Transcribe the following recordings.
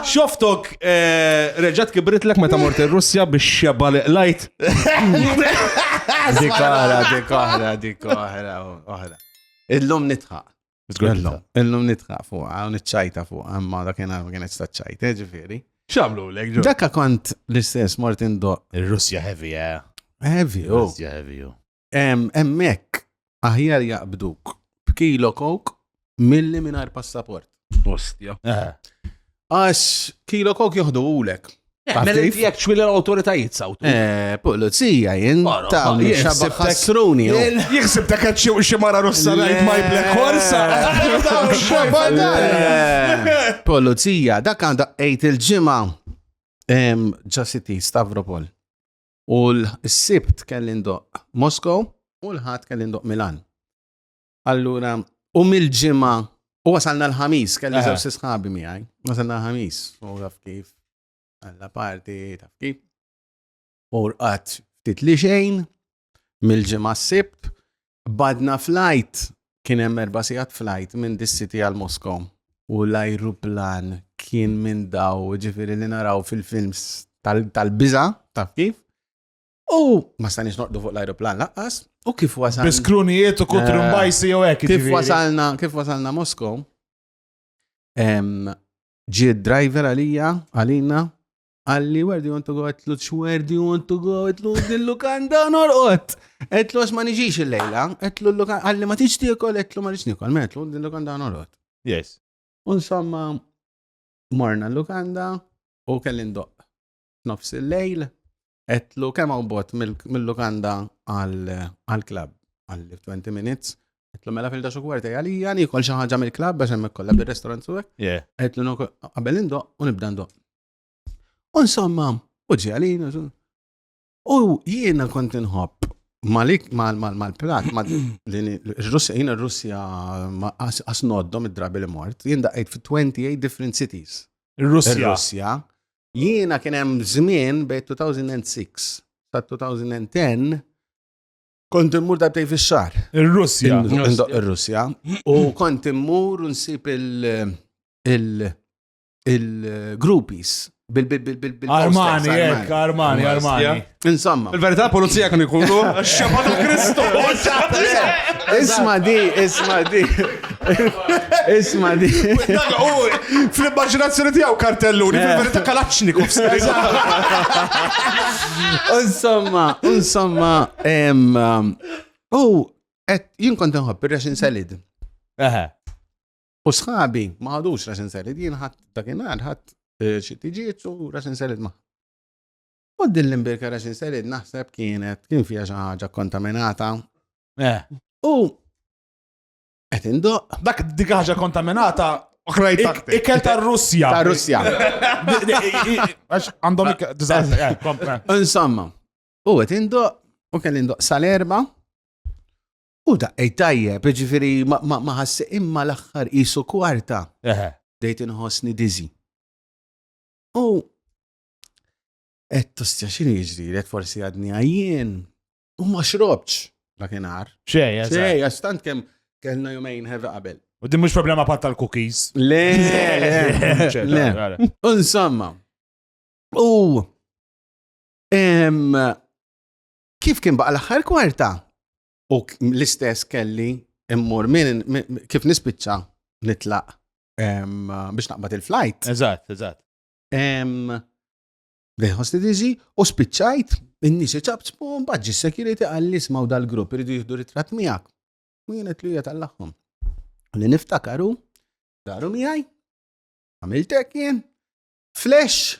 Xoftok reġat kibritlek meta mort ir-Russja biex xeba li qlajt. Dik oħra, dik oħra, dik oħra, oħra. Illum nitħaq. Illum nitħaq fuq, għaw nitċajta fuq, għamma da kena kienet staċċajt, eh, ġifiri. Xamlu l ġo. Dakka kont l-istess Martin Do. Il-Russja heavy, eh. Heavy, oh. Russja heavy, oh. Hemmhekk aħjar jaqbduk b'kilo kok milli mingħajr passaport. Ostja. Eh. Għax kilo kok joħdu ulek. Eh, mela Għatif? jek ċwil l-autoritajiet sawtu. Eh, Pulizija, jien Mara, ta' ma- jien xabba sibtek- ħassruni. u- Jixsib ta' kħed xi- xi mara russa Le. rajt my black horse. Le. Pulizija, dak għandha għejt il-ġimgħa. Em, Ġasiti, Stavropol. U l-sibt kelli ndoq Moskow u l-ħadd kelli ndoq Milan. Allura, u mill-ġimgħa u wasalna l-ħamis, kelli żewġ sisħabi miegħi. Wasalna l-ħamis, u taf kif, għalla parti, taf kif. U rqat ftit li xejn, mill-ġimgħa s-sibt, Badna flajt, kien hemm erba' sigħat flajt minn dis-city għal Moskow. U l-ajruplan kien minn daw, ġifieri li naraw fil-films tal-biża, taf kif? U ma stanix noqdu fuq l-ajruplan laqqas, u kif wasalna. Biskrunijiet u kutru eh, mbajsi jew hekk. Kif wasalna, kif wasalna Moskow? Ġi driver għalija, għalina, Għalli, where do you want to go? Għetlu, where do you want to go? Għetlu, dil-lukanda norqot. Għetlu, għax ma nġiġ il-lejla. Għetlu, għalli ma tiġ tiekol, għetlu ma nġiġ nikol. Għetlu, dil-lukanda norqot. Yes. Unsomma, morna l-lukanda u kellin doq. Nofs il-lejl, għetlu kemm għaw bot mill-lukanda għal-klab, għal-20 minutes. Għetlu mela fil daċu kwarta għalija, nikol xaħġa mill-klab, biex emmek kolla bil-restaurant suwek. Għetlu, għabel indoq u nibda ndoq. Insomma, u ġalin, u jiena kont inħobb Malik mal-plat, l-Russja, jina r-Russja asnoddom id-drabi li mort, jien daqqajt fi 28 different cities. Russja. Jiena kien hemm żmien bej 2006 sa 2010 kont immur darbtej fix-xahar. Ir-Russja. Ir-Russja. U kont immur nsib il- il-groupies. Armani, jek, eh, Armani, Armani. Insomma. Il-verità polizija kan ikunu xabba ta' Kristu. Isma di, isma di. Isma di. Fl-immaginazzjoni tijaw kartelluni, eh. fil-verità kalaċni kuf Insomma, insomma, um, u, et jien kont nħobb ir-resin salid. Eħe. U sħabi ma ħadux raxin selid, jien ħadd dakinhar ħadd eh, xi tiġiet u raxin selid ma. U din l-imbirka raxin selid naħseb kienet kien fiha xi ħaġa kontaminata. Eh. U qed indoq Dak dik ħaġa kontaminata Oħrajn ik- taħtek. ikel tar-Russja. ta' Russja. Għax għandhom ikel. Dizat, eh, kom, eh. Insomma, u qed indoq u kelli indoq sal-erba U daqqejt tajjeb, jiġifieri ma ħassejt imma l-aħħar qisu kwarta. Eħe. Bdejt inħossni dizzy. U qed tostja x'inhi jiġrilek forsi għadni għajjien u ma xrobtx dakinhar. Xejn, xejn, għax tant kemm kellna jumejn ħerra qabel. U din mhux problema pat tal-cookies. Le, le. Insomma. U Kif kien baqa l-aħħar kwarta? U l-istess kelli immur minn kif nispiċċa nitlaq biex naqbad il-flight. Eżatt, eżatt. Bdejt ħosti diżi u spiċċajt in-nies iċabċbu mbagħad ġi security għalli smaw dal-grupp iridu jieħdu ritratt miegħek. U jien qed li hija tal-aħħom. Li niftakaru daru miegħi għamiltek jien flash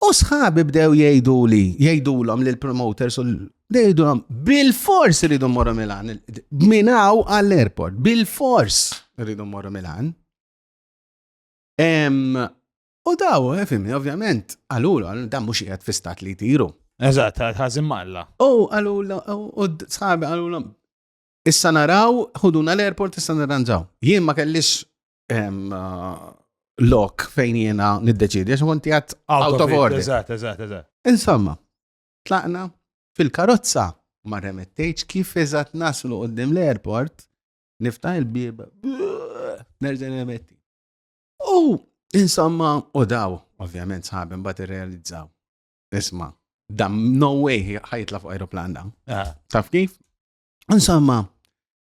U sħabi bdew jgħidu li, jgħidulhom li l-promoters u jgħidulhom bil-fors rridu morru Milan, minaw għall-airport, bil-fors rridu morru Milan. U daw, eh, fimni, ovvjament, għalulu, dan mux jgħed fi stat li tiru. Eżat, ħazim malla. U għalulu, u sħabi għalulu, issa naraw, ħuduna l-airport issa naranġaw. Jien ma kellix uh, lok fejn jiena niddeċidi, għax konti għat out of order. Eżatt, eżatt, eżatt. Insomma, tlaqna fil-karozza ma remettejċ kif eżatt naslu qoddim l-airport, nifta il-bib, nerġa' remetti. U insomma, u daw, ovvjament sħabem bat realizzaw. Isma, dam no way ħajtla fuq aeroplan da. Ah. Taf kif? Insomma,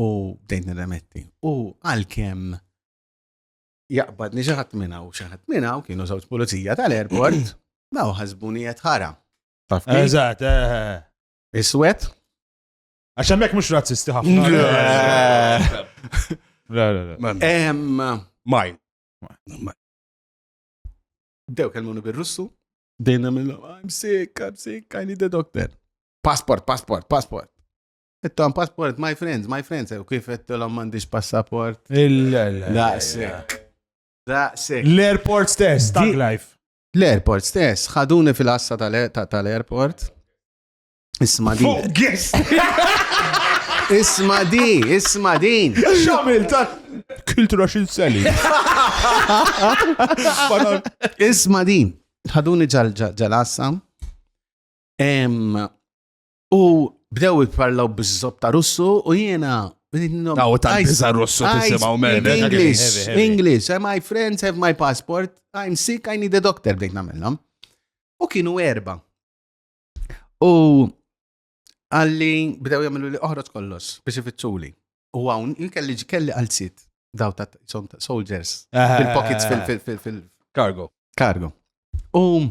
u bdejt nirremetti. U għalkemm jaqbad niġaħat minna u xaħat minna u kienu żewġ pulizija tal-airport, daw ħasbuni qed ħara. Eżatt, eh, eh, eh. Iswed. Għax hemmhekk mhux razzisti ħafna. La la la. Maj. Dew kelmuni bir-Russu, dejna mill I'm sick, I'm sick, I need a doctor. Passport, passport, passport. Tom passport, my friends, my friends, u kif għettilom mandiġ passaport. Daqsek. Daqsek. L-airport stess, tag life. L-airport stess, ħaduni fil-assa tal-airport. Isma di. Isma di, isma din. Xamil ta' kultura xin seli. Isma din. ħaduni ġal-assa. U bdew jitparlaw bizzop ta' russu u jiena Taw ta' biza russu tisimaw minn English, English, eh, my friends have my passport, I'm sick, I need a doctor, bdejt namillom. U kienu erba. U għalli bdew jagħmlu li oħroġ kollox biex ifittxuli. U hawn kelli kelli għal sit daw ta' soldiers fil-pockets fil-cargo. Cargo. U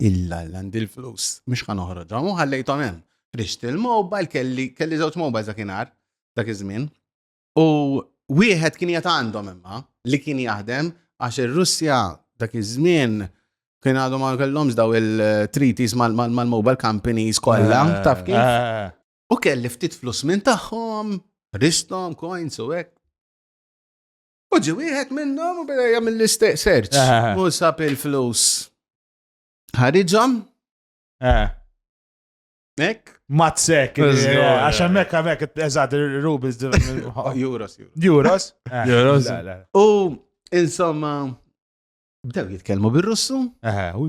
Illa illa għandi l-flus, mhux ħa noħroġhom u ħallejthom hemm. Rixt il-mobile kelli kelli żewġ mobile dakinhar dak iż-żmien. U wieħed kien jgħat għandhom imma li kien jaħdem għax ir-Russja dak iż-żmien kien għadhom ma kellhomx daw il-treaties mal-mobile companies kollha, eh, taf kif? Eh. U kelli ftit flus minn tagħhom, ristom, coins u hekk. U ġi wieħed minnhom u beda jagħmel l-istess search. Eh. U sab il-flus. Ħariġhom? Eh. Ek? Mazzek, eh, għax hemmhekk hemmhekk eżatt rubles Euros. Euros? Euros. U insomma bdew jitkellmu bir-Russu. Aha, u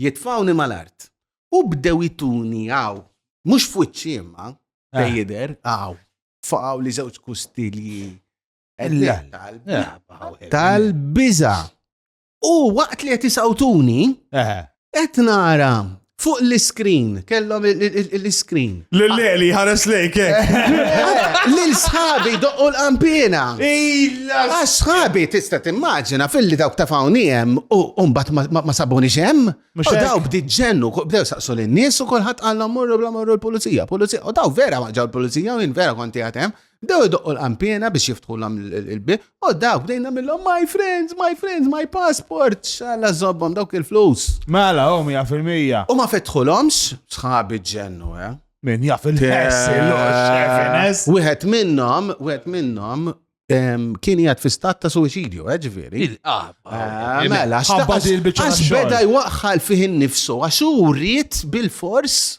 Jitfgħuni mal-art. U bdew ituni hawn, mhux f'wiċċi imma, fejn jidher, hawn. Faqgħuli żewġ kustilji. Tal-biża. U waqt li qed isawtuni, qed nara fuq l-iskrin, kellhom l-iskrin. L-leli ħares lejk, eh? Lil sħabi doqqu l-qampina. Illa! Għax sħabi tista' timmaġina fil-li dawk ta' fawni hemm u mbagħad ma sabuni xem. U daw bdiet ġennu, bdew saqsu lin-nies u kulħadd qallhom morru bla morru l-pulizija, pulizija. U daw vera ma ġew l-pulizija u jien vera konti għatem. Bdew idoqqu l-qampiena biex jiftħulhom il-bib, u dawk bdejna millhom my friends, my friends, my passport, xalla zobbom dawk il-flus. Mela, u mija fil-mija. U ma fetħulhomx, sħabi ġennu, eh? Min jaf il-ħess, il-ħess. Wieħed minnhom, wieħed minnhom, kien jgħat fi stat ta' suicidju, eh, ġviri. Ah, eh, mela, għax beda jwaqħal fih nifsu, għax u rrit bil-fors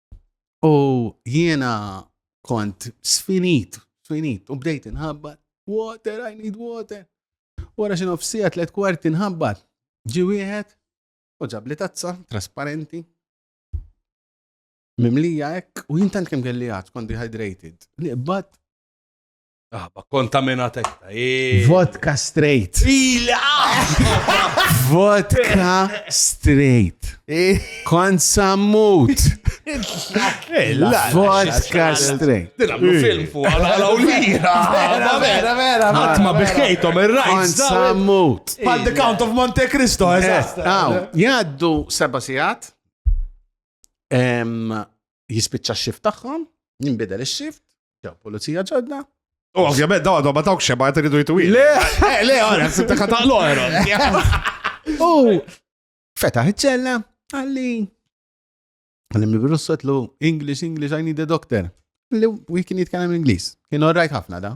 U jiena kont sfinit, sfinit, u bdejt inħabbat, water, I need water. Wara xi nofsija tliet kwarti nħabbat, ġi wieħed u ġab li tazza trasparenti. Mimlija hekk u jintant kemm kelli għad, kont dehydrated. Li qbad Ah, ma kontaminat ekta. eh. Vodka straight. Vodka straight. Kont sammut. Vodka straight. Dilablu film fuq għala għala u lira. Vera, vera, vera. Għatma biħkejtom il-rajt. Kont sammut. Pal The Count of Monte Cristo, eżatt. Aw, jaddu seba sijat. Em, jispiċċa x-xift tagħhom, jinbidel ix-xift, ġew pulizija ġodda. U ovvjament dawn għadhom ma dawk xeba qed iridu jitwi. Le, eh, le, għara, sibta kataqlu għara. U fetaħ iċ-ċella, għalli. Għalli mibirus sotlu, English, English, I need a doctor. Li u kien jitkellem Ingliż. Kien orrajt ħafna da.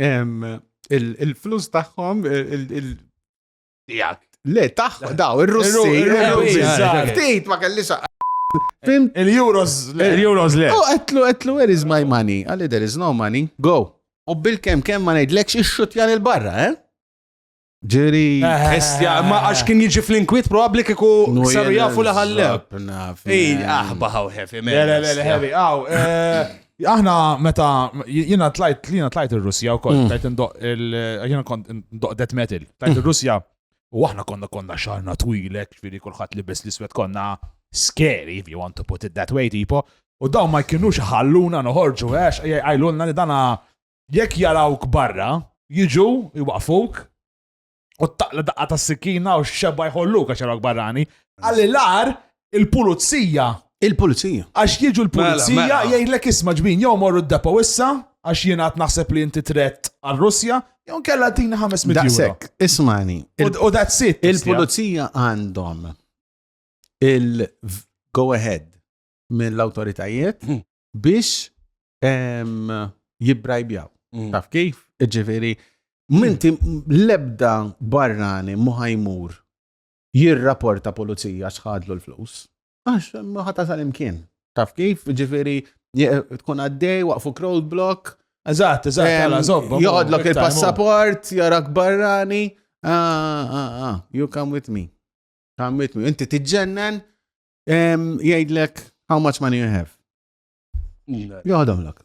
il-flus tagħhom Le, taħ, daw, il-Russi, il-Russi, il-Russi, ma kellix Fim? Il-Euros. Il-Euros le. U għetlu, għetlu, where is my money? Għalli, there is no money. Go. U bil-kem, kem ma nejdlekx ix-xutjan il-barra, eh? Ġiri, estja, ma għax kien jiġi fl-inkwit probabli kiku saru jafu li ħallew. Ej, aħba ħaw heavy, man. Le, le, le, heavy, għaw. Eh, aħna meta jina tlajt, jina tlajt il-Russja u kont, mm. tlajt ndoq il-jina kont ndoq death metal, tlajt mm. il-Russja u aħna konna konna xarna twilek, ġviri kullħat li bes l-iswet konna scary, if you want to put it that way, tipo, u daw ma jkinux ħalluna noħorġu, għax eh, għajlunna li dana Jekk jarawk barra, jiġu jwaqfuk u taqla daqqa ta' sikkina u xeba jħolluk għax jarawk barrani. Għalli l-ar il-pulizija. Il-pulizija. Għax jiġu mela, l-pulizija mela. jgħidlek isma ġbin jew morru d-depo issa għax jien għat naħseb li inti tret għal-Russja, jew kella tina 500 euro. Daqsek, ismani. U that's it. Il-pulizija għandhom il-go ahead mill-autoritajiet hmm. biex jibbrajbjaw. Mm. Taf kif? Ġifiri, minti lebda barrani muħajmur jirraporta pulizija xħadlu l-flus. Għax, muħata sal-imkien. Taf kif? Ġifiri, tkun għaddej, waqfu crowd block. Eżat, eżat, għala, zobba. Joħodlok il-passaport, jarak barrani. Ah, ah, ah, you come with me. Come with me. Inti tiġġennen, Jgħidlek how much money you have. Joħdom lak.